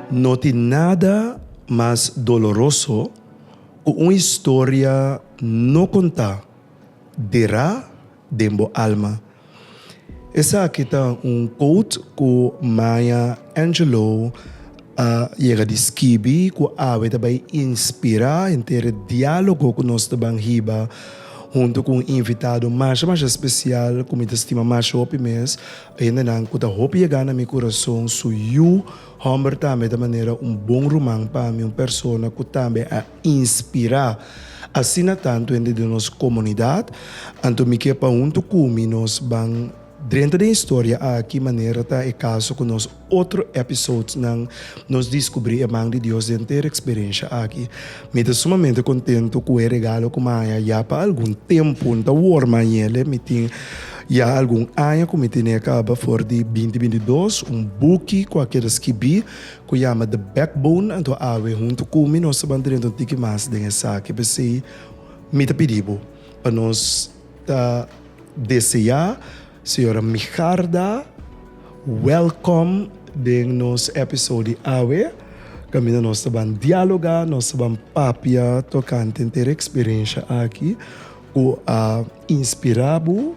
No tin nada mas doloroso ku un historia no kontá, derá den bo alma. Esaki ta un quote cu Maya Angelou a yega di skibi cu awe ta bay inspira henter e dialogo cu nos ta ban hiba hunto cu un invitado masha masha special cu mi ta stima masha hopi mes. Hendenan cu ta hopi yega na mi curason, su yu homber tambe ta manera un bon ruman pa mi, un persona cu tambe a inspirá asina tantu hende den nos komunidat. Anto mi ke pa huntu ku mi nos ban drenta den historia aki manera ta e kaso ku nos otro episodesnan nos diskubrí e man di Dios den henter eksperensha aki. Mi ta sumamente kontentu ku e regalo ku mi a haña ya pa algun tempu, N ta wòrdu mi a hañ'e mi tin ya algun aña ku mi ten'e kaba for di binti binti dos, un buki ku a keda skibí. cu yama The Backbone anto awe hunto cu mi nos ta ban drenta un tiki mas den esaki pesey mi ta pidi bo pa nos ta deseá Sra. Migarda welkom den nos episode di awe caminda nos ta ban dialoga, nos ta ban papia tocante entera experiencia aki cu a inspira bo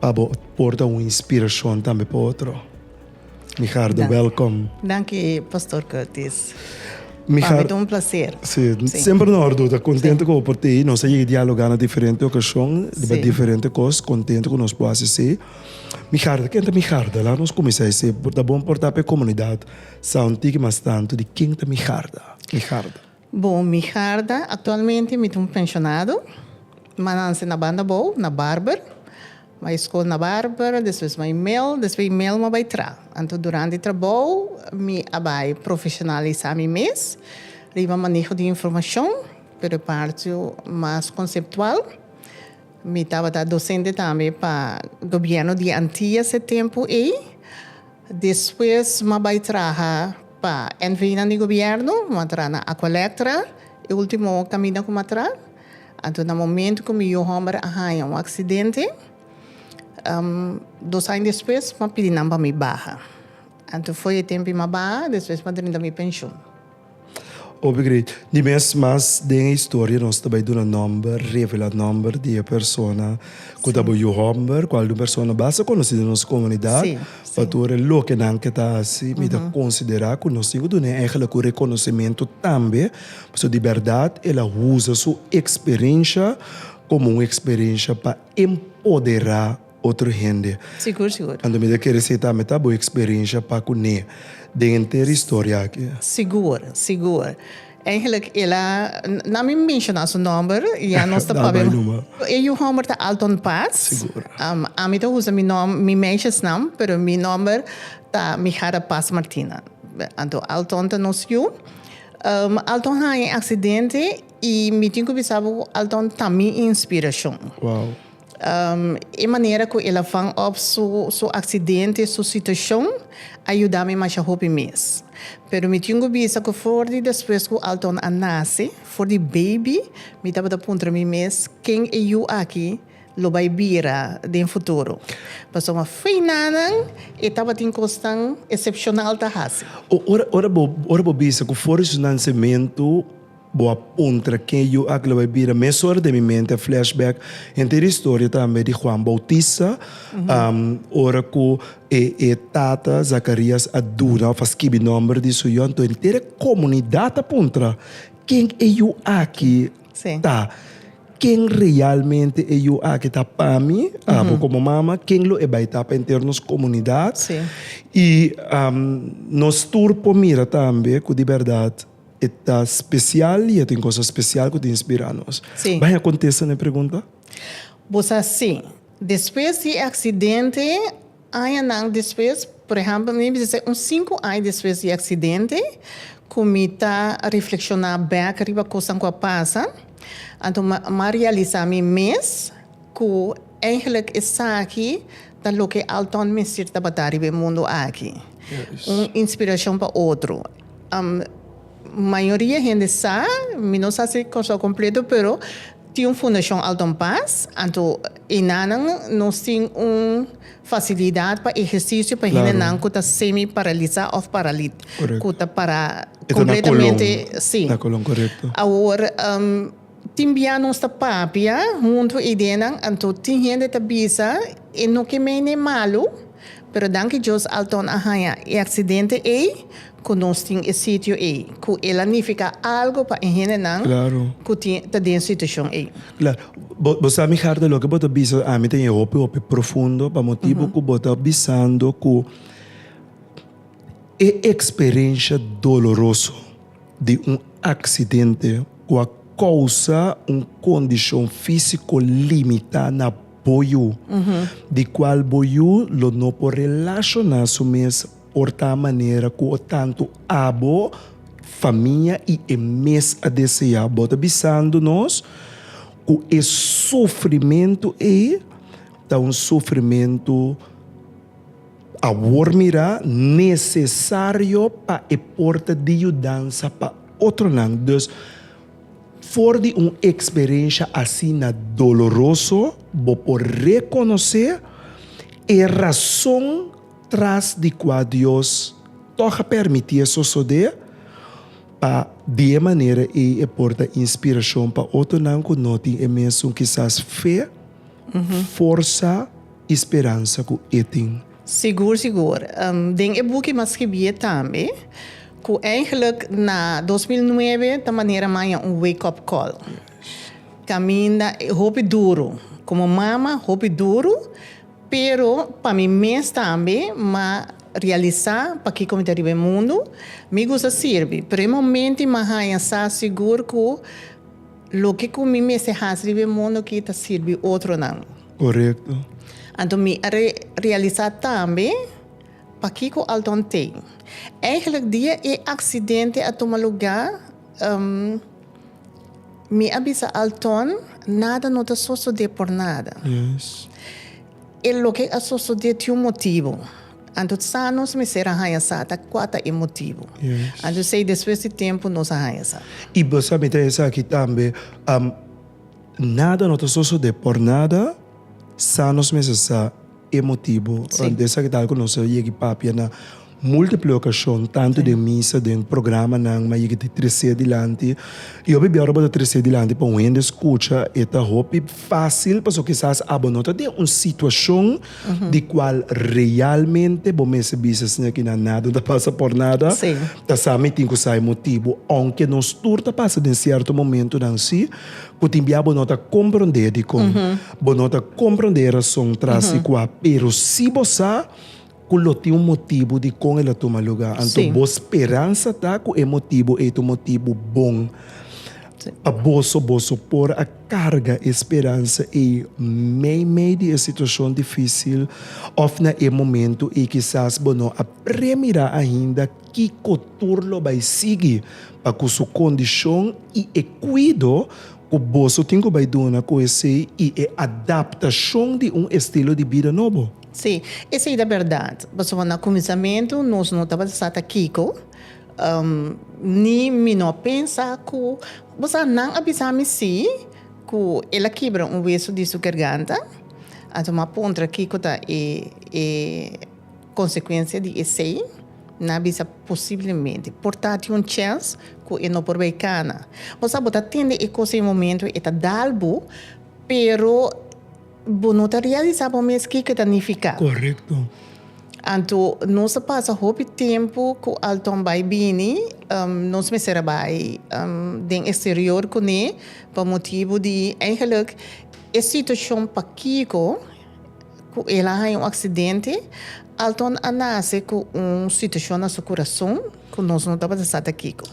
pa bo por ta un inspiracion tambe pa otro. Migardo welkom. Danki Pastor Curtis. Migar. Pabit un placer. Si, semper no ordu ta contento cu por tei. Nos a yega dialoga na diferente ocasion riba diferente cos. Contento cu nos por haci si. Migardo, ken ta Migardo? Laga nos cuminsa esi. Ta bon por ta pa e comunidad Sound Tiki mas tanto di ken ta Migardo? Migardo. Bon, mi harda aktualmente mi ta un penshonado. M'a nase na banda bou, na Barber. Bai skol na Barber, despues bai mel, despues di mel m'a bai tra. Anto durante trabou mi a bai profeshonalisá mi mes riba maneho di informashon, pero e parti mas konseptual. Mi tabata dosente tambe pa gobièrnu di Antillas e tempu ei. Despues m'a bai traha pa NV nan di Gobierno, m'a tra na Aqualectra, e ultimo caminda cu m'a tra. Anto na momento cu mi yu homber a hanja un accidente, dos aña despues m'a pidi nan pa mi baha. Anto fo'i e tempi m'a baha, despues m'a drinta mi pensioen. Obe grei. Di mes mas den e historia nos ta bai duna nomber, revela nomber di e persona ku ta bo yu homber, ku algun persona basta konosí den nos komunidat pa tur e loke nan ke ta hasi mi ta konsiderá ku nos tin ku dun'é ehele ku rekonosementu tambe pasobra di bèrdat el a usa su eksperensha komo un eksperensha pa empoderá. otro hende. Sigur, sigur. Anto mi ta kere si tambe ta bo experensha pa kuné den henter e historia aki? Sigur, sigur. Eigenlijk el a, na mi menshoná su nòmber, ya nos ta papia. Dal bai numa. E yu hòmber ta Alton Paz. Sigur. Ami ta usa mi nòm, mi meshesnam, pero mi nòmber ta Mijara Paz Martina. Anto Alton ta nos yu. Alton haña e aksidente i mi tin ku bisa bo ku Alton ta mi inspirashon. Wow. E manera cu el a vang op su accidente, su situacion, a yuda mi masha hopi mes. Pero mi tin cu bisa cu for di despues cu Alton a nace, for di baby, mi tabata puntra mi mes, ken e yu aki lo bay bira den futuro? Pasobra ma feinanan e tabatin cosnan excepcional ta haci. Ora bo bisa cu for di su nancemento. Bo a puntra, Ken yu aki lo bai bira? Mes ora den mi mente a flashback henter e historia tambe di Juan Bautista, ora ku e e tata Zakarias a duna òf a skibi nòmber di su yu, anto henter e komunidat a puntra, Ken e yu aki ta? Ken realmente e yu aki ta pa mi, abo komo mama? Ken lo e bai ta pa henter nos komunidat? I nos tur por mira tambe ku di bèrdat. E ta spesial i e tin kos spesial ku ta inspirá nos. Sí. Bai a kontesta na e pregunta? Bo sa sí. Despues di e aksidente, añanan despues, por ehèmpel mi bisa sè un sinku aña despues di e aksidente, ku mi ta reflekshoná bèk riba kosnan ku a pasa, anto mi a realisá mi mes ku, Eigenlijk esaki ta loke Alton mester tabata riba e mundo aki, un inspiracion pa otro. Mayoria hende sa, mi no sa si Kòrsou completo, pero tin un Fundacion Alton Paz, anto enanan nos tin un facilidad pa ejercicio pa hendenan cu ta semi paralisa of paralit, cu ta para completamente, si. Awor. Tin bia nos ta papia hunto idenan anto tin hende ta bisa e no ke mei n'e malu, pero danki Dios Alton a haña e aksidente ei ku nos tin e sitio ei ku el a nifiká algu pa e hendenan ku tin ta den situashon ei. Klaro. Bo sa mihar ta loke bo ta bisa ami ta ña hopi hopi profundo pa motibu ku bo ta bisando ku e eksperensha doloroso. di un aksidente ku a kousa un kondishon físiko limitá na bo yu, di kual bo yu lo no por relashoná su mes por ta manera ku tantu abo famia i e mes a deseá. Bo ta bisando nos ku e sufrimentu ei ta un sufrimentu. Awor mirá nesesario pa e porta di yudansa pa otronan. Dus, for di un eksperensha asina doloroso, bo por rekonosé e rason tras di kua Dios tòg a pèrmití e sosodé, pa di e manera ei e por ta inspirashon pa otronan ku no tin e mesun kisas fe, forsa i speransa ku e tin. Sigur sigur. Den e buki m'a skibié tambe ku eigenlik na dos mil nuebe ta manera maña un wake up call. Kaminda hopi duru, komo mama hopi duru, pero pa mi mes tambe m'a realisá pakiko mi ta riba e mundu, mi gusta sirbi, pero e momenti m'a haña sa sigur ku loke ku mi mester hasi riba e mundu aki ta sirbi otronan. Korekto. Anto mi a realisá tambe pakiko Alton tei. Eigelijk dia e aksidente a tuma lugá, mi a bisa Alton nada no ta sosodé por nada. E loke a sosodé tin un motibu. Anto sa nos mester a haña sa ta kua ta e motibu. Anto esei despues di tempu nos a haña sa. I bo sa mita esaki tambe. Nada no ta sosode por nada, sa nos mes a sa e motibu rònt esa ke tal ku nos a yegi papia na múltiple okashon, tantu den misa, den programanan, ma yegi ta tres'é dilanti. I hopi biaru bo ta tres'é dilanti pa un hende skucha, e ta hopi fásil, pasobra kisas abo no ta den un situashon di kual realmente bo mes a bisa, siña kinan, nada no ta pasa por nada, ta sa mi tin ku sa e motibu. Ounke nos tur ta pasa den sierto momentunan, sí. Ku tin bia bo no ta komprondé dikon bo no ta komprondé e rason tras di kua, pero si bo sa ku lo tin un motibu dikon el a tuma lugá, anto bo speransa ta ku e motibu ei ta un motibu bon pa boso. Boso por a karga e speransa ei meimei di e situashon difísil òf na e momentu ei. Kisas bo no a premirá ainda Kiko tur lo bai sigui pa ku su kondishon i e kuido ku boso tin ku bai duna ku esei i e adaptashon di un estilo di bida nobo? Sí, esei ta bèrdat. Pasobra na kuminsamentu nos no tabata sa ta kiko, ni mi no a pensa ku, bo sa nan a bisa mi sí ku el a kibra un wesu di su garganta. Anto m'a puntra kiko ta e. Konsekuensia di esei na bisa posiblemente por tati un chèns ku e no por bai kana. Bo sa bo ta tende e kos e momentu e ta dal bo, pero bo no ta realisá bo mes ke ke ta nifiká. Korekto. Anto nos a pasa hopi tempu ku Alton bai bini, nos mester a bai den eksterior kuné pa motibu di, eigenlik e situashon pakiko ku el a haña un aksidente. Alton a nase ku un situashon na su kurason ku nos no tabata sa ta kiko.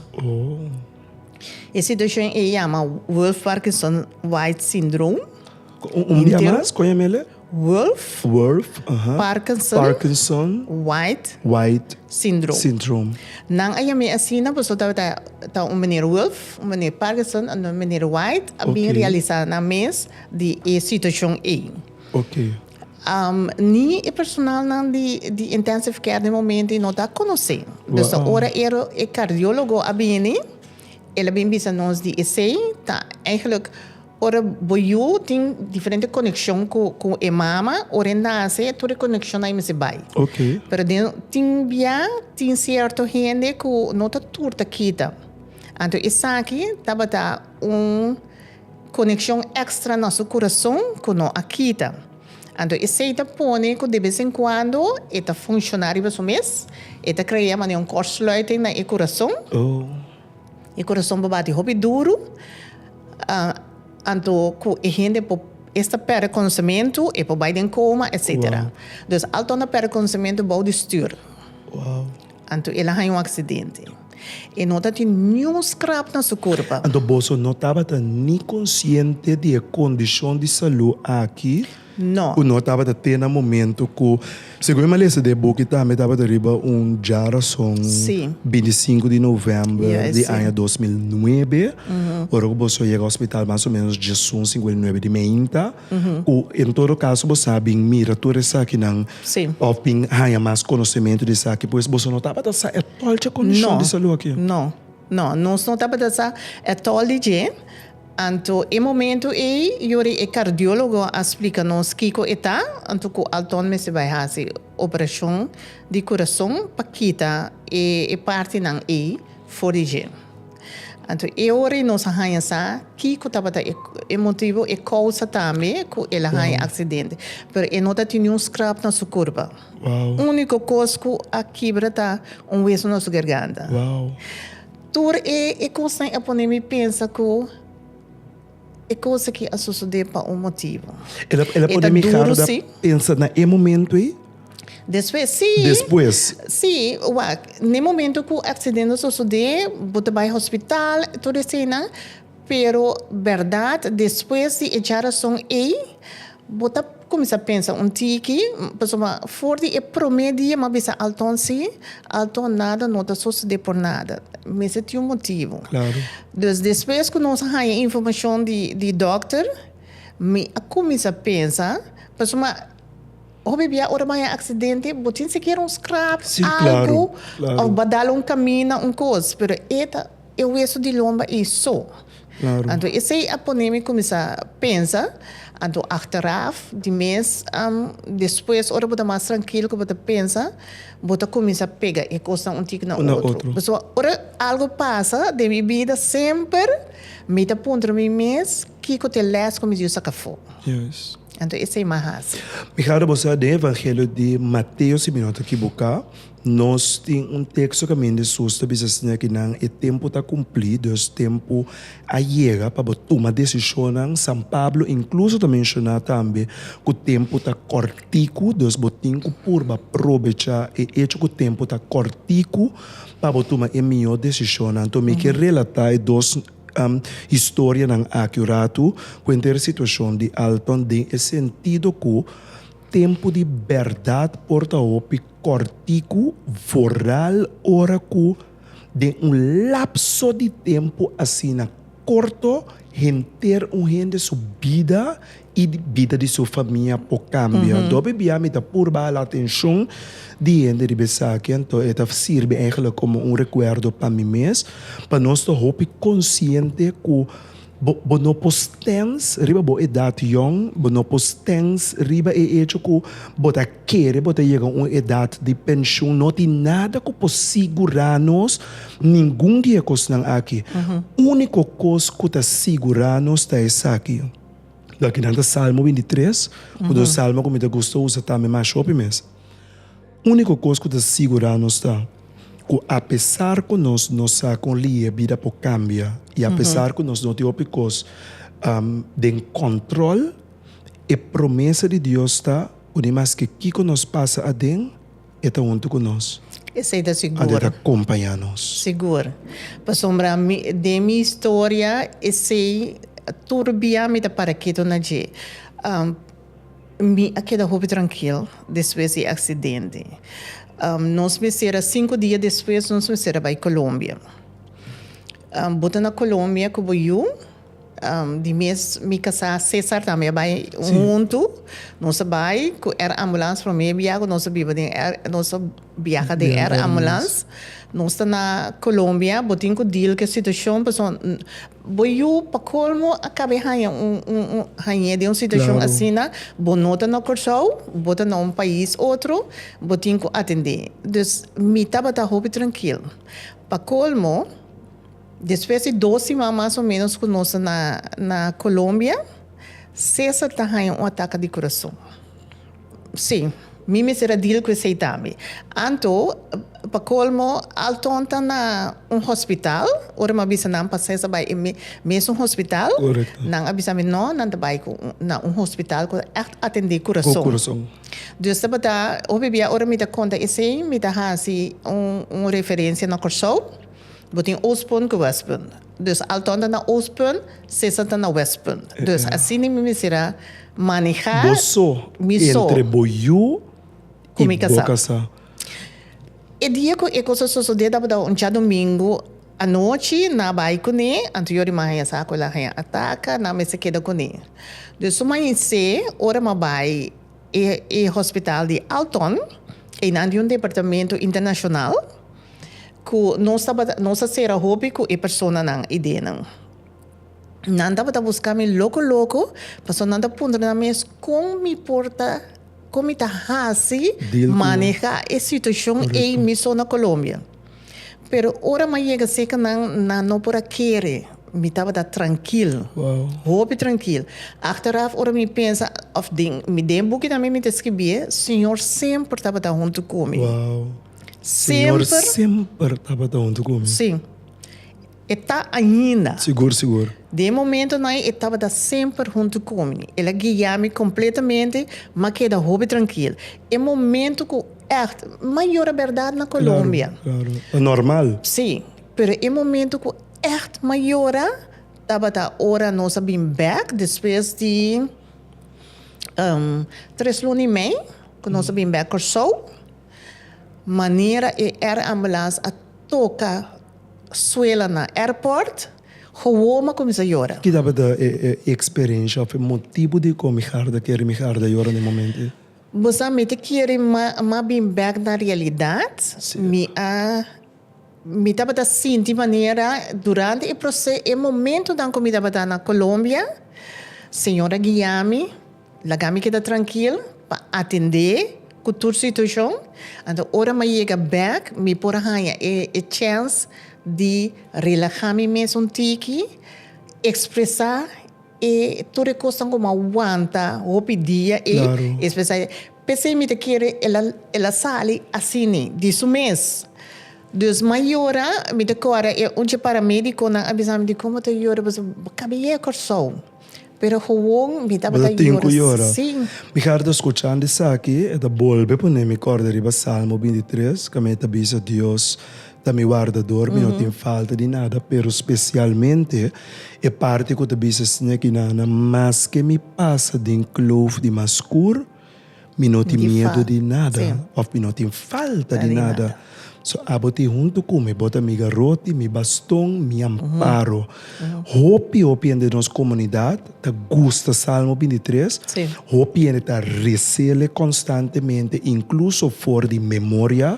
E situashon ei yama Wolff-Parkinson-White Syndrome. Un bia mas, kon yama el? Wolff. Wolff, aha. Parkinson. Parkinson. White. White. Syndrome. Syndrome. Nan a yam'é asina pasobra tabata ta un meneer Wolff, un meneer Parkinson, un meneer White a bin realisá nan mes di e situashon ei. Oke. Ni e personalnan di di intensive care den momento y no ta conoce. Dus ta ora ero e cardiologo a bini, el a bin bisa nos di esey ta eigenlijk ora bo yu tin diferente conexion cu cu e mama, ora e nace tur e conexion nan a mester bay. Oke. Pero den tin bia tin cierto hende cu no ta tur ta kita. Anto esaki tabata un. Konekshon èkstra na su kurason ku no a kita. Anto esei ta pone ku de bes en kuando e ta funshoná riba su mes, e ta krea manera un kortsluiting na e kurason. E kurason por bati hopi duru, anto ku e hende por esta pèrdè konsementu, e por bai den koma, etsetera. Dus alto nan pèrdè konsementu bou di stür. Anto el a haña un aksidente i no ta tin niun skrap na su kurpa. Anto boso no tabata ni konsiente di e kondishon di salú aki ku no tabata te na momentu ku, segun e malesa di e buki tambe tabata riba un djarason, binti i sinku di novèmber di aña dos mil nuebe, ora ku boso a yega hospital mas o ménos djiesun sinku el nuebe di meinta. Ku en todo kaso bo sa bin mira tur esakinan òf bin haña mas konosementu di esaki, pues boso no tabata sa etòl dje kondishon di salú aki? No, no, no. Nos no tabata sa etòl di dje. Anto e momentu ei yori e kardiólogo a splika nos kiko e ta, anto ku Alton mester bai hasi operashon di kurason pa kita e partinan ei for di dje. Anto e ora y nos a haña sa kico tabata e motibo, e causa tambe cu el a haña accidente. Pero e no ta tin ni un scrap na su curpa. Unico cos cu a kibra ta un weso na su garganta. Tur e cosnan a pone mi pensa cu E cos aki a sosode pa un motivo. El a el a pone mi harda pensa na e momento ey? Despues si. Despues. Si, wak, n'e momento cu accidente a sosode bo ta bay hospital tur eseinan pero berdad despues di e djarazon ey Bo ta kuminsá pensa un tiki, pasobra for di e promé dia m'a bisa Alton sí, Alton nada no ta sosodé por nada. Mester tin un motibu. Dus despues ku nos a haña informashon di di dòkter, mi a kuminsá pensa, pasobra hopi bia ora bo a haña aksidente bo tin sikiera un skrap, algu, òf bo a dal un kamina, un kos, pero e ta e hueso di lomba ei so. Anto esei a pone mi kuminsá pensa, anto achteraf di mes despues ora bo ta mas trankil ku bo ta pensa bo ta kuminsá pega e kosnan un tiki na otro. Pasobra ora algu pasa den mi bida semper mi ta puntra mi mes kiko ta e lès ku mi dios saka afó. Anto esei mi a hasi. Mijado bo sa den evangelio di Mateo si mi no ta kibuká. Nos tin un teksto kaminda Jesús ta bisa siña ki nan e tempu ta kumplí, dus tempu a yega pa bo tuma desishonnan. San Pablo inkluso ta menshoná tambe ku tempu ta kòrtiku, dus bo tin ku purba probechá e echo ku tempu ta kòrtiku pa bo tuma e mihó desishonnan. Anto mi ke relatá e dos historianan aki un ratu ku enter e situashon di Alton den e sentido ku tempu di bèrdat por ta hopi Kòrtiku vooral ora ku den un lapso di tempu asina korto henter un hende su bida i di bida di su famia por kambia. Dòbe bia mi ta purba hala atenshon di hende riba esaki anto e ta sirbi eigenlijk komo un rekuerdo pa mi mes pa nos ta hopi konsiente ku. Bo no por stens riba bo edat yòn, bo no por stens riba e echo ku bo ta kere bo ta yega un edat di penshun. No tin nada ku por sigurá nos ningun di e kosnan aki. Úniko kos ku ta sigurá nos ta esaki, loke nan ta Salmo bintitres, un salmo ku mi ta gusta usa tambe mas hopi mes. Úniko kos ku ta sigurá nos ta ku apesar ku nos no sa kon li'é e bida por kambia i apesar ku nos no tin hopi kos den kòntròl, e promesa di Dios ta ku ni maske kiko nos pasa aden, e ta huntu ku nos. Esei ta sigur. Anto e ta kompañá nos. Sigur. Pasobra mi, den mi historia esei tur bia mi ta para ketu na dje. Mi a keda hopi trankil despues di e aksidente. Nos mester a sinku dia despues nos mester a bai Colombia. Bo ta na Colombia ku bo yu, di mes mi kasá Cesar tambe a bai huntu. Nos a bai ku air ambulance promé biaha ku nos a biba den air nos a biaha den air ambulance. Nos ta na Colombia bo tin ku deal ku e situashon pasobra. Bo yu pa colmo a cabe haya un un hañe den un situacion asina, bo no ta na Corsou, bo ta na un pais otro, bo tin cu atende. Dus mi tabata hopi trankil. Pa colmo, despues di dos siman mas o menos cu nos na na Colombia, Cesar ta haya un ataca di curason. Sí, mi mester a deal cu esey tambe. Anto, pa colmo, Alton ta na un hospital, ora mi a bisa nan pa Cesar bay e mesun hospital, nan a bisa mi no, nan ta bay na un hospital cu ta echt atende curason. Dus tabata hopi bia ora mi ta conta esey, mi ta haci un referencia na Corsou, bo tin Oostpunt cu Westpunt. Dus Alton ta na Oostpunt, Cesar ta na Westpunt. Dus así niño mi mester a maneha mi so. Bo so entre bo yu y bo casá. E dia cu e cos a sosode tabata un djadomingo anochi, nan a bay cune, anto yo rima haña sa cu el a haña ataca, nan a mester keda cune. Dus su mañese, ora mi a bay e hospital di Alton, eynan di un departamento internacional, ku nos tabata nos a sera hopi ku e personanan idenan. Nan tabata buska mi loko loko pasobra nan ta puntra nan mes kon mi por ta kon mi ta hasi maneha e situashon ei miso na Colombia. Pero ora mi a yega seka nan nan no por a kere mi tabata trankil hopi trankil achteraf ora mi pensa òf den den e buki tambe mi ta skibié señor semper tabata huntu ku mi. Semper. Señor semper tabata huntu cu mi. Sí. E ta ainda. Sigur, sigur. Den e momento nae e tabata semper huntu cu mi. El a guia mi completamente, m'a keda hopi trankil. E momento cu echt, m'a yora berdad na Colombia. Claro, claro. Ta normal. Sí, pero e momento cu echt m'a yora tabata ora nos a bin bek despues di tres luna y mei cu nos a bin bek Curaçao. Manera e air ambulance a toca suela na airport, gewoon a cuminsa yora. Ki tabata e experencia of e motibu di con mi harta kere mi harta yora na e momento ei? Bo sa mi ta kere ma bin back na realidad, mi a. Mi tabata sinti manera durante e proce, e momentonan cu mi tabata na Colombia, Señor a guiami, laga mi keda trankil pa atende cu tur situacion. Anto ora mi a yega bek, mi por a haya e chance di relaha mi mes un tiki, expresa e tur e cosnan cu mi a wanta hopi dia ei, expresa ei. P'esei mi ta kere el a sali asini di su mes. Dus mayora mi ta kòrda e unchi paramédikonan a bisa mi di komo ta yora pasobra bo kabi'é a Kòrsou. Pero gewoon mi tabata yora sin. Mi harta skuchan di esaki, e ta bolbe pone mi kòrda riba Salmo bintitres, ku mi ta bisa Dios, Ta mi wardador, mi no tin falta di nada, pero spesialmente e parti ku ta bisa, Señor ku Nana, maske mi pasa den kloof di mas skur, mi no tin miedu di nada, òf mi no tin falta di nada. So abo tin huntu ku mi, bo ta mi garoti, mi baston, mi amparo. Hopi hopi hende den nos komunidat ta gusta Salmo bintitres, hopi hende ta resela e konstantemente, inkluso for di memoria.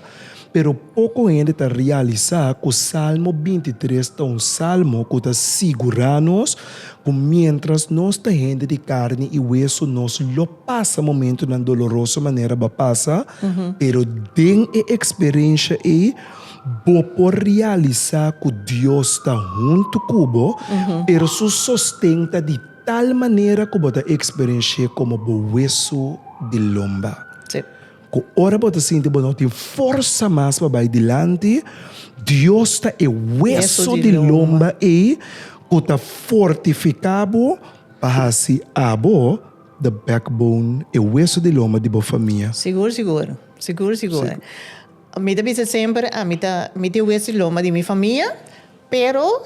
Pero poko hende ta realisá ku Salmo binti tres ta un salmo ku ta sigurá nos ku miéntras nos ta hende di karni i wesu nos lo pasa momentunan doloroso manera bo a pasa, pero den e eksperensha ei bo por realisá ku Dios ta huntu ku bo, pero su sosten ta di tal manera ku bo ta eksperensh'é komo bo wesu di lomba. Ku ora bo ta sinti bo no tin forsa mas pa bai dilanti, Dios ta e weso di lomba ei ku ta fortifiká bo pa hasi abo the backbone, e weso di lomba di bo famia. Sigur, sigur. Sigur, sigur. Mi ta bisa semper, mi ta, mi ta e weso di lomba di mi famia. Pero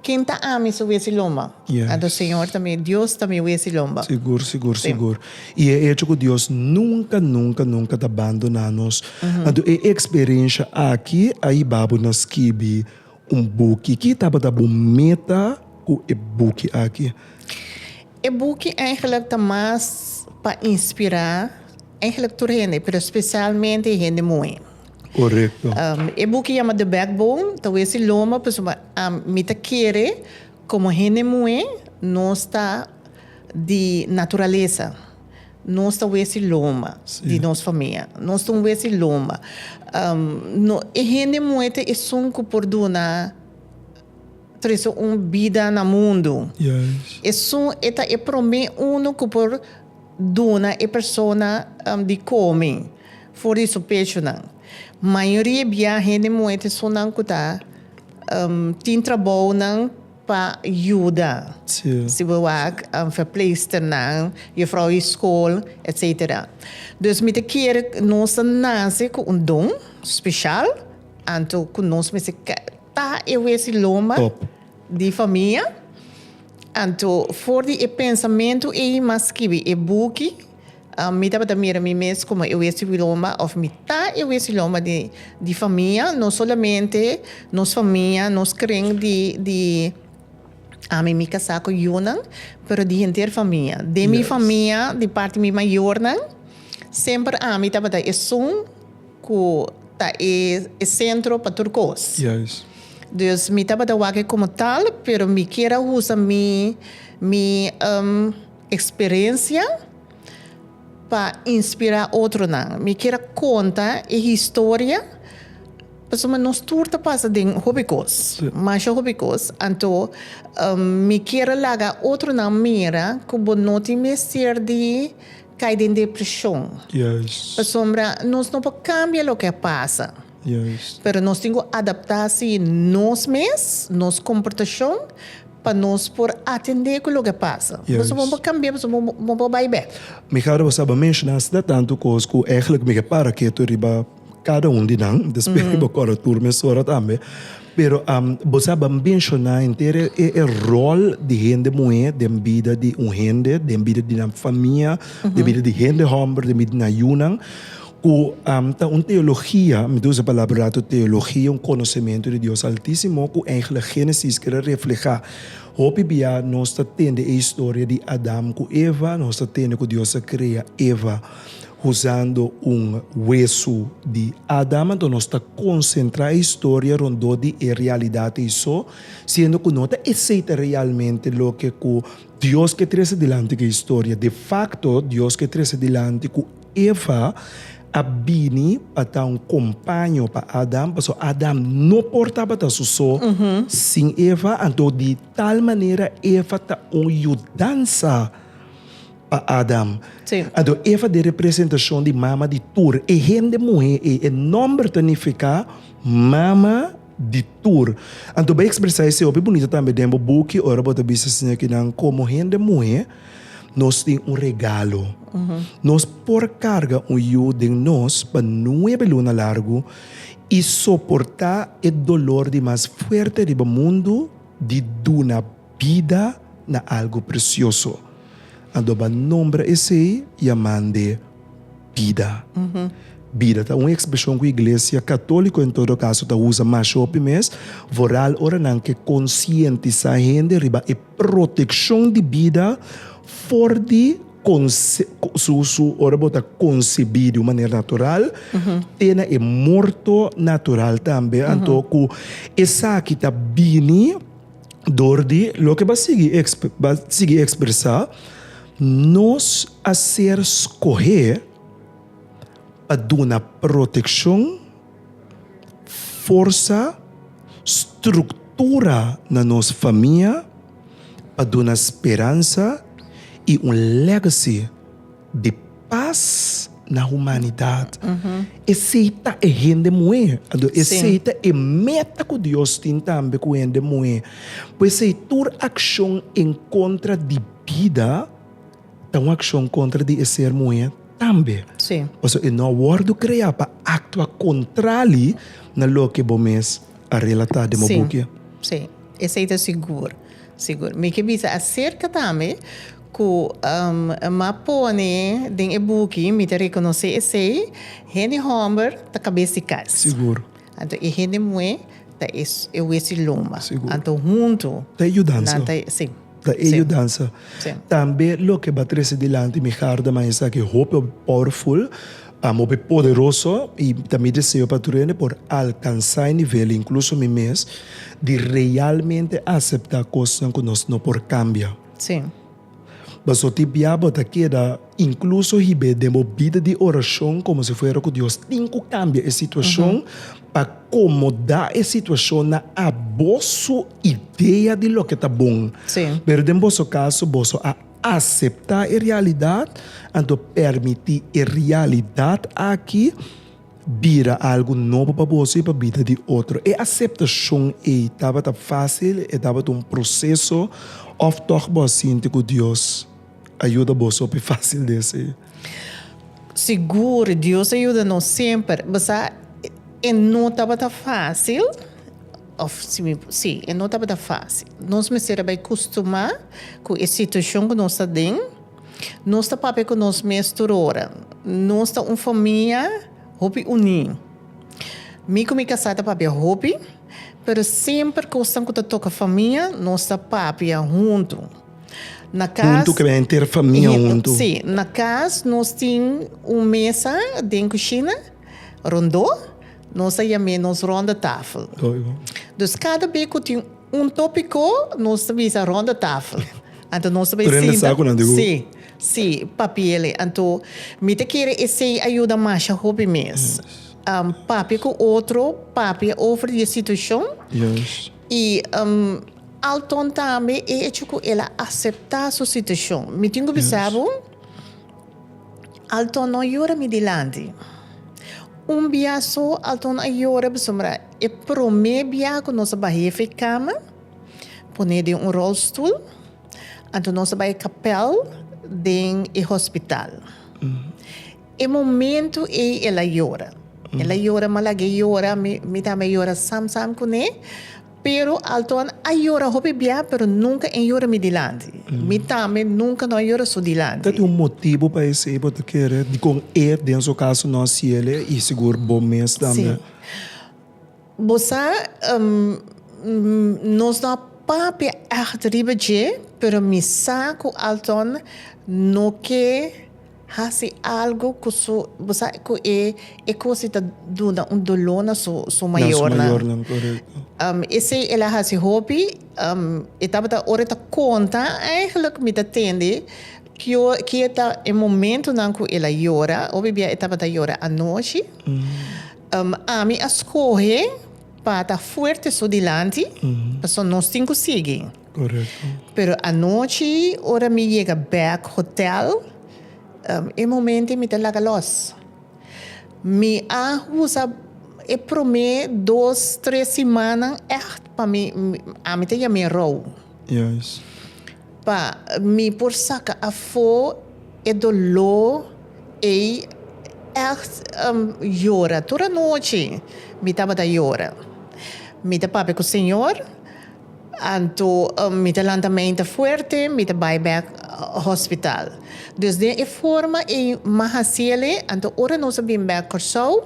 ken ta ami su wesi lomba. Anto Señor ta mi, Dios ta mi wesi lomba. Sigur, sigur, sigur. I e echo ku Dios nunka, nunka, nunka ta bandoná nos. Anto e eksperensha aki a ibabo na skibi un buki. Ki tabata bo meta ku e buki aki? E buki eigenlijk ta mas pa inspirá. Eigenlijk tur hende, pero specialmente hende muhe. Correcto. E buki yama The Backbone ta wes di loma pasobra mi ta kere como hende muhe nos ta di naturalesa nos ta wes di loma di nos famia nos ta un wes di loma e hende muhe ta esun cu por duna. Trece un bida na mundu. Esun e ta e prome unu cu por duna e persona di come for di su pechunan. Mayoria bia hende muet esunnan cu ta tin trabounan pa yuda, si bo wak, verpleegsternan, juffrouw di school, etc. Dus mi ta kere nos ta nace cu un don special, anto cu nos mester. Ta e wesi loma di famia. Anto for di e pensamentu ei m'a skibi e buki. Mi tabata mira mi mes komo e wesi loma òf mi ta e wesi loma di di famia. No solamente nos famia, nos kring di di ami mi kasá ku yunan pero di henter famia. Den mi famia di parti mi mayornan semper ami tabata esun. Ku ta e sentro pa tur kos. Juist. Dus mi tabata wak komo tal, pero mi kier a usa mi mi eksperensia pa inspirá otronan. Mi kier a konta e historia pasobra nos tur ta pasa den hopi kos, masha hopi kos. Anto mi kier a laga otronan mira ku bo no tin mester di Cay den depresion. Pasobra nos no por cambia loke a pasa. Pero nos tin cu adapta si nos mes, nos comportacion, pa nos por atende cu loke a pasa. Pasobra bo por cambia, pasobra bo por bay bek. Mi hara bo sa bo menciona asina tantu cos cu eigenlijk mi ke para ketu riba. Kada un di nan, despues mi bo kòrda tur mesora tambe. Pero boso a ban menshoná henter e ròl di hende muhé den bida di un hende, den bida di nan famia, den bida di hende hòmber, den bida di nan yunan, ku ta un teologia, mi ta usa e palabra un ratu teologia, un konosementu di Dios Altísimo ku eigentlik Génesis keda reflehá. Hopi biaha nos ta tende e historia di Adam ku Eva, nos ta tende ku Dios a krea Eva. Usando un wesu di Adam, anto nos ta konsentrá e historia rondó di e realidad ei so, siendo ku no ta esei ta realmente loke ku Dios ke trese dilanti ku e historia. De fakto, Dios ke trese dilanti ku Eva a bini pa ta un kompaño pa Adam, pasobra Adam no por tabata su so sin Eva, anto di tal manera Eva ta un yudansa. pa Adam. Sí. Anto Eva ta e representashon di mama di tur e hende muhé ei. E nòmber ta nifiká mama di tur. Anto bo a ekspresá esei hopi bunito tambe den bo buki ora bo ta bisa esei señor kinan komo hende muhé nos tin un regalo. Nos por karga un yu den nos pa nuebe luna largu i soportá e dolor di mas fuerte riba mundu di duna. Bida na algu presioso. Anto bo a nombra esei i a mande bida. Bida ta un ekspreshon ku iglesia katóliko en todo kaso ta usa masha hopi mes, vooral ora nan ke konsientisá hende riba e protekshon di bida for di ora bo ta konsebí di un manera natural te na e morto natural tambe. Anto ku esaki ta bini. Dor di loke b'a sigui b'a sigui ekspresá, nos a ser skohé pa duna protekshon, forsa, struktura na nos famia, pa duna speransa i un lègasi. De pas na humanidat. Esei ta e hende muhé. Anto esei ta e meta ku Dios tin tambe ku hende muhé. P'esei tur akshon en kontra di bida ta un akshon kontra di e ser muhé tambe. Pasobra e no a wòrdu kreá pa aktua kontrali na loke bo mes a relatá den bo buki. Sí, esei ta sigur, sigur. Mi ke bisa aserka tambe. Ku e map pone den e buki, mi ta rekonosé esei hende hòmber ta kabes di kas. Sigur. Anto e hende muhé ta e e wes di loma. Sigur. Anto huntu. Ta e yudansa. Nan ta e, si. Ta e yudansa. Si. Tambe loke ba trese dilanti mi hardaman esaki hopi hopi powerful, hopi poderoso i ta mi deseo pa tur hende por alkansá e nivel, inkluso mi mes, di realmente aseptá kosnan ku nos no por kambia. Sí. Paso tin bia bo ta keda incluso hib'é den bo bida di oracion como si fuera cu Dios tin cu cambia e situacion pa comoda e situacion na aboso idea di loke ta bon. Sí. Pero den boso caso boso a acepta e realidad, anto permiti e realidad aki Bira algu nobo pa boso i pa bida di otro. E aseptashon ei tabata fásil, e tabata un proseso òf tòg bo a sinti ku Dios a yuda bo sopi fásil di hasi? Sigur, Dios a yuda nos semper. Bo sa, e no tabata fásil, òf si mi por si, e no tabata fásil. Nos mester a bai kustumá ku e situashon ku nos ta den. Nos ta papia ku nos mes tur ora. Nos ta un famia hopi uní. Mi ku mi kasá ta papia hopi, pero semper kosnan ku ta toka famia nos ta papia huntu. Na kas. Huntu ke henter famia huntu. Sí, na kas nos tin un mesa den kushina rondó, nos ta yam'é nos rondetafel. Dus kada be ku tin. Un tópiko nos ta bisa rondetafel. Anto nos ta bay sinta. Sí, sí, papielen. Anto mi ta kere esey a yuda masha hopi mes. Papia ku otro, papia over di e situashon. I alton tambe e echo ku el a aseptá su situashon. Mi tin ku bisa bo. Alton no yora mi dilanti. Un bia so Alton a yora pasobra e promé bia ku nos a baha di e fekama, pon'é den un rolstoel, anto nos a bai kapèl den e hospital. E momentu ei el a yora. El a yora malag'é yora, mi tambe a yora sam sam kuné. Pero Alton a yora hopi bia pero nunca en yora mi dilanti. Mi tambe nunca no a yora su dilanti. Ta tin un motibu pa esey bo ta kere dikon e den su caso no a ciele y sigur bo mes tambe. Si. Bo sa nos no a papia echt riba dje pero mi sa cu Alton no ke Hasi algu cu su, bo sa cu e e cosi ta duna un dolor na su su mayornan. Na su mayornan, correcto. Um, esey el a hasi hopi, um, e tabata ora e ta conta, eigenlijk mi ta tende kio kie ta e momentonan cu el a yora, hopi bia e tabata yora anochi, um, ami a scohe pa ta fuerte su dilanti, pasobra nos tin cu sigui. Correcto. Pero anochi ora mi yega bek hotel, e momento ei mi ta laga los. Mi a usa e prome dos, tres simannan echt pa mi, ami ta yam'e rou. Juist. Pa mi por saka afo e doló ei echt yora. Tur anochi mi tabata yora. Mi ta papia ku Señor. Anto mi ta lanta meinta fuerte, mi ta bai bek hospital. Dus den e forma ei mi hasiele, anto ora nos a bin bek Kòrsou,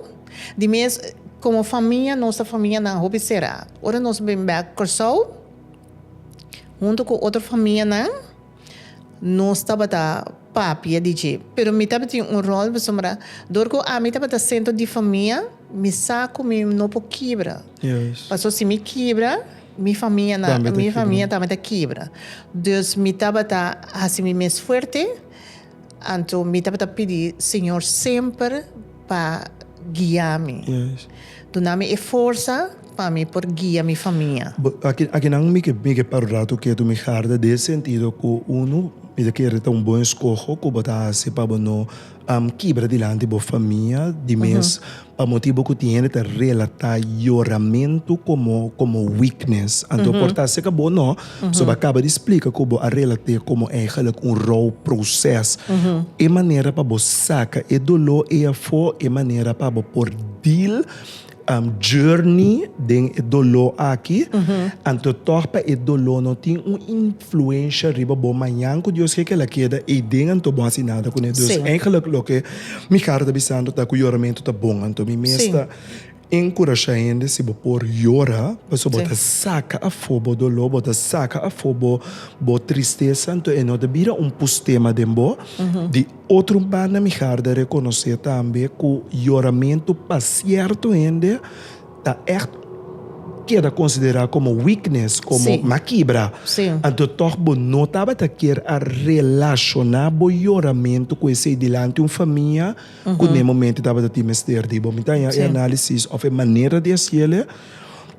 di mes komo famia, nos ta famianan hopi sera. Ora nos a bin bek Kòrsou huntu ku otro famianan. Nos tabata papia di dje. Pero mi tabatin un rol pasobra dor ku ami tabata sentro di famia, mi sa ku mi no por kibra. Paso si mi kibra, mi famia na, mi famia tambe ta kibra. Dus mi tabata hasi mi mes fuerte. Anto mi tabata pidi Señor semper pa guia mi, duna mi e forsa pa mi por guia mi famia. Bo aki akinan mi ke mi ke para un rato ketu mi harda den e sentido ku uno mi ta kere ta un bon eskoho ku bo ta hasi pa bo no kibra dilanti bo famia di mes Pa motibu ku tin hende ta relatá yoramentu komo komo weakness, anto por ta aserka bo no, pasobra bo a kaba di splika ku bo a relat'é komo eigelijk un rou proses. E manera pa bo saka e doló ei afó, e manera pa bo por deal, journey, den e doló aki, anto tòg pa e doló no tin un influensha riba bo mañan ku Dios ke kila keda ei den anto bo a hasi nada kuné. Dus, eigelijk loke. Mi kara ta bisando ta ku yoramentu ta bon, anto mi mes ta enkurashá hende, si bo por yora, pasobra bo ta saka afó bo doló, bo ta saka afó bo bo tristesa, anto e no ta bira un pustema den bo. Di otro banda mi kara ta rekonosé tambe ku yoramentu pa sierto hende. ta echt keda considera como weakness, como Sí. na kibra, Sí. anto tog bo no tabata kier a relaciona bo yoramento cu esey dilanti un famia cu n'e momento tabata tin mester di bo. Mi ta haña e Sí. análisis of e manera di haciele,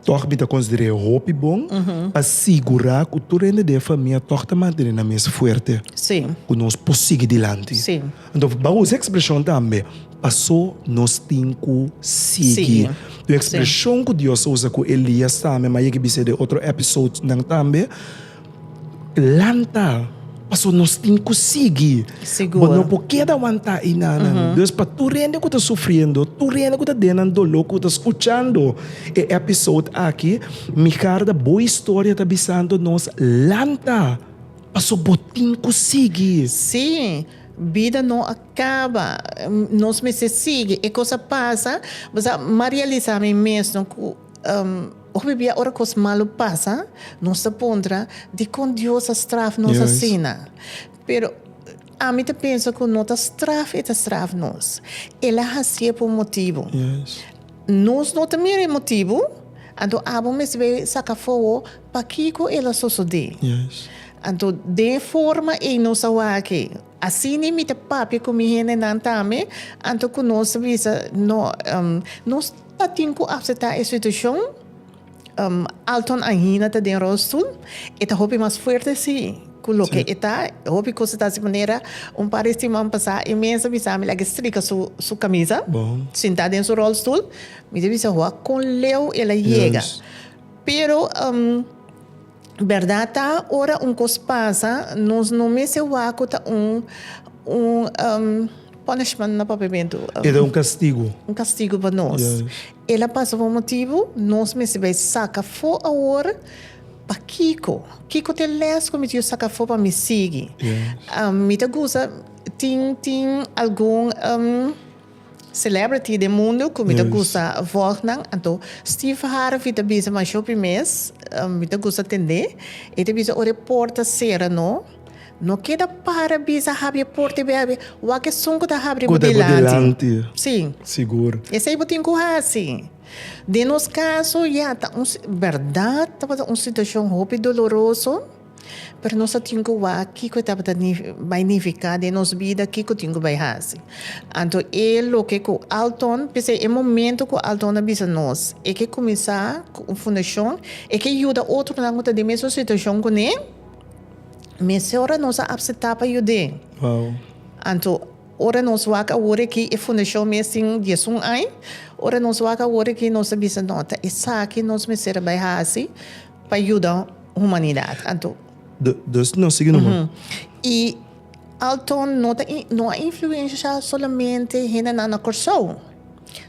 tog mi ta consider'é hopi bon pa sigura cu tur hende di e famia tog ta mantene nan mes fuerte, Sí. cu nos por sigui dilanti. Sí. Anto ban usa e ekspreshon tambe, Pasó nos tin ku sigui. Un ekspreshon ku Dios a usa ku Elias tambe, m'a yega bisha den otro èpisodenan tambe, Lanta, pasó nos tin ku sigui. Bo no por keda wantá ei nanan. Dus pa tur hende ku ta sufriendo, tur hende ku ta den nan doló, ku ta skuchando e èpisode aki, mi karda, bo historia ta bisando nos, Lanta! Paso bo tin cu sigui. Sí, bida no a caba. Nos mester sigui. E cos a pasa. Bo sa, m'a realisa mi mesno cu hopi bia ora cos malo pasa, nos ta puntra, Dicon Dios a straf nos asina? Pero, ami ta pensa cu no ta straf e ta straf nos. El a haci'e pa un motibu. Nos no ta mira e motibu, anto abo mester bai saca fogo pakico el a sosode. Anto den e forma ey nos a wak-e. Asina mi ta papia cu mi hendenan tambe, anto cu nos ta bisa, no, nos ta tin cu acepta e situacion. Alton Aina ta den rolstoel, e ta hopi mas fuerte si ku loke e ta, hopi kos ta hasi manera un par di siman pasá e mes a bisa mi laga e strika su kamisa, sintá den su rolstoel, mi ta bisa hoa kon leu el a yega, pero bèrdat ta ora un kos pasa nos no mester wak ku ta un un punishment na papiamentu, e ta un kastigu pa nos. El a pasa pa un motibu, nos mester bai saka afó awor. Pakiko? Kiko ta e lès ku mi tin saka afó pa mi sigui? Mi ta gusta, tin, tin algun celebrity den mundu ku mi ta gusta vòg nan. Anto Steve Harvey ta bisa masha hopi mes, mi ta gusta tende. E ta bisa ora e por ta sera no. No keda para bisa habri e porta i bai habri. Wak esun ku ta habri bo dilanti. Sí. Sigur. Esei bo tin ku hasi. Den nos kaso, ya, ta un, bèrdat, tabata un situashon hopi doloroso, pero nos a tin ku wak kiko e tabata bai nifiká den nos bida, kiko tin ku bai hasi. Anto e loke ku Alton, p'esei e momentu ku Alton a bisa nos e ke kuminsá ku un fundashon, e ke yuda otronan ku ta den mesun situashon kuné, Mester ora nos a apseptá pa yud'é. Anto, ora nos wak awor akí, e fundashon mes tin diesun aña, ora nos wak awor akí nos ta bisa, no, ta esaki nos mester a bai hasi pa yuda humanidat. Anto. Dus nos sigui nomas. I Alton no ta, no a influensha solamente hendenan na Kòrsou.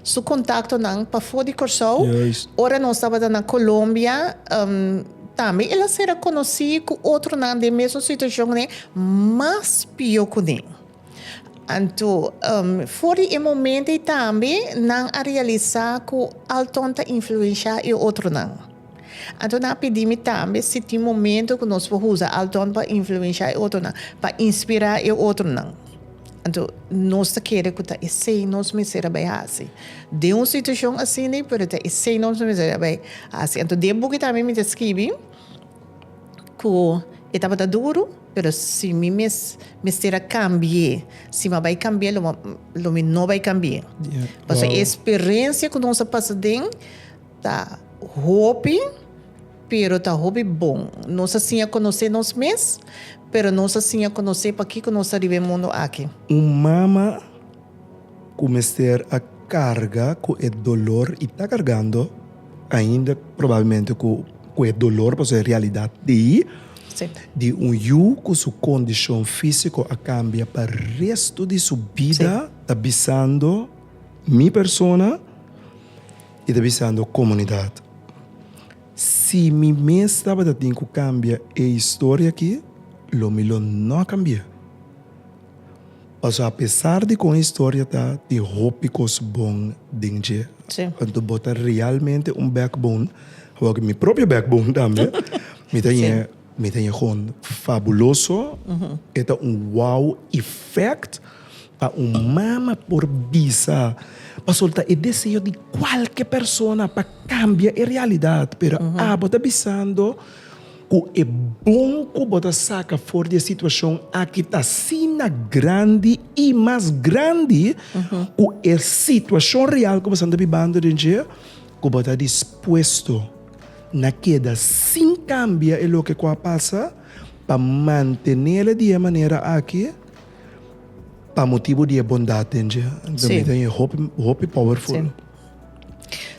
Su contactonan pafó di Corsou. Juist. Ora nos tabata na Colombia, em, tambe el a cera conocí cu otronan den mesun situacion ne, mas pio cu ne. Anto, em, for di e momento ei tambe nan a realisá cu alton ta influenciá e otronan. Anto nan a pidi mi tambe si tin momento ku nos por usa al don pa influensha e otronan, pa inspirá e otronan. Anto nos ta kere ku ta esei nos mester a bai hasi. Den un situashon asina, pero ta esei nos mester a bai hasi. Anto den e buki tambe mi ta skibi ku e tabata duru, pero si mi mes mester a kambi'é, si mi a bai kambi'é lo mi no bai kambi'é. Pasobra e sperensia ku nos a pasa den Ta hopi, pero ta hopi bon. Nos a siña conoce nos mes, pero nos a siña conoce pakico nos ta riba e mundo aki. Un mama cu mester a carga cu e dolor y ta cargando ainda probablemente cu e dolor, pasobra e realidad t'ey, di un yu cu su condicion fisico a cambia pa resto di su bida, ta bisando mi persona. I ta bisando komunidat, Si mi mes tabata tin ku kambia e historia akí, lo mi lo no a kambiá. Pasobra apesar di kon e historia ta, tin hopi kos bon den dje. Anto bo ta realmente un backbone, awor ku mi propio backbone tambe mi ta ña. Mi ta yegon fabuloso. E ta un wow effect pa un mama por bisa, pa solta e deseo di cualke persona pa cambia e realidad. Pero abo ta bisando cu e bon cu bo ta saca for di e situacion aki ta asina grandi y mas grandi cu e situacion real cu bo esnan ta bibando den dje, cu bo ta dispuesto. na keda sin kambia e loke ku a pasa pa mantenele di e manera aki pa motibu di e bondat den dje. Anto mi ta oye hopi, hopi powerful.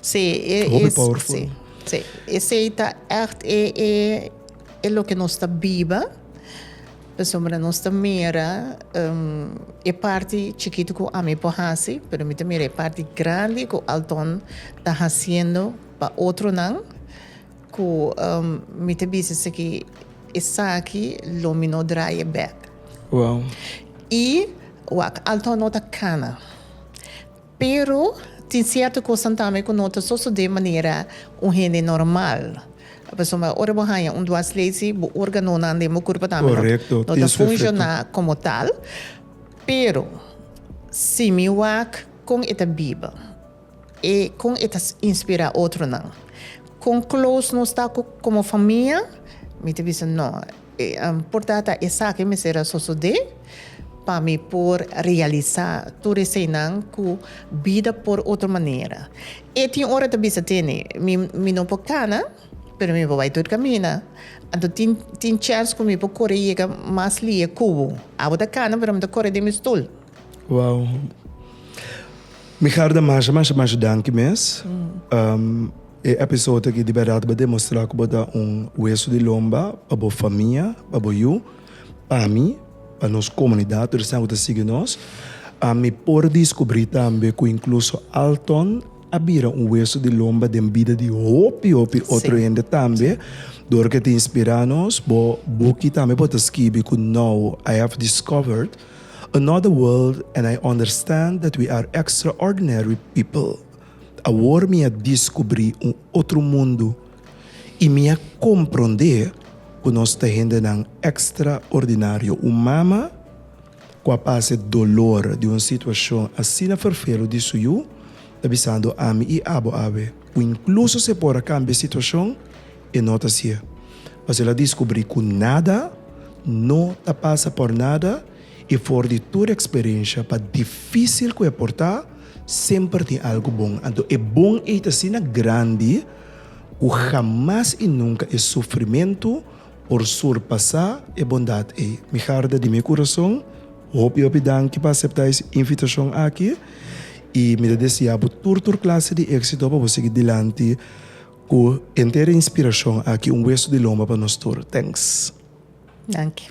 Sí, e, e, Hopi powerful. sí, sí. Esei ta echt e, e, e loke nos ta biba, pasobra nos ta mira em, e parti chikitu ku ami por hasi, pero mi ta mira e parti grandi ku Alton ta hasiendo Pa otronan ku mi ta bisa si ki esaki lo mi no drai e bek. Wow. I wak, alto no ta kana. Pero tin sierto kosan tambe ku no ta sosode manera un hende normal. Pasobra ora bo haña un dwarslesie bo organonan den bo kurpo tambe no Korekto, tin su efekto. ta funshoná komo tal. Pero si mi wak kon e ta biba? E kon e ta inspirá otronan? Kon close nos ta ku komo famia? Mi ta bisa no. Por tata esaki mester a sosodé pa mi por realisá tur eseinan ku bida por otro manera. E tin ora ta bisa tene, mi mi no por kana, pero mi por bai tur kaminda. Anto tin tin chèns ku mi por kore yega mas lihe ku bo. Abo ta kana pero mi ta kore den mi stul. Wow. Mi harda masha masha masha danki mes. Um, e episode aki di berdad bo demostra ku bo ta un hueso di lomba pa bo famia, pa bo yu, pa mi, pa nos komunidad, tur esnan ku ta sigui nos. Um, mi por diskubri tambe ku inkluso Alton a bira un hueso di lomba den bida di hopi hopi otro Sí. hende tambe. Dor ke ta inspirá nos, bo buki tambe bo ta skibi ku now I have discovered Another world and I understand that we are extraordinary people. Awor mi a diskubri un otro mundu i mi a komprondé ku nos ta hendenan ekstraordinario. Un mama ku a pasa e dolor di un situashon asina ferfelu di su yu ta bisando ami i abo awe ku inkluso si e por a kambia e situashon, E no ta si'e. Mas el a diskubrí ku nada no ta pasa por nada i for di tur eksperensha, pa difísil ku e por ta, semper tin algu bon. Anto e bon ei ta asina grandi ku hamas i nunka e sufrimentu por surpasá e bondat ei. Mi harde di mi kurason, hopi hopi danki pa aseptá es invitashon aki i mi ta deseá bo tur tur klase di éksito pa bo sigui dilanti. Cu entera inspiracion aki un hueso di lomba pa nos tur. Thanks. Danki.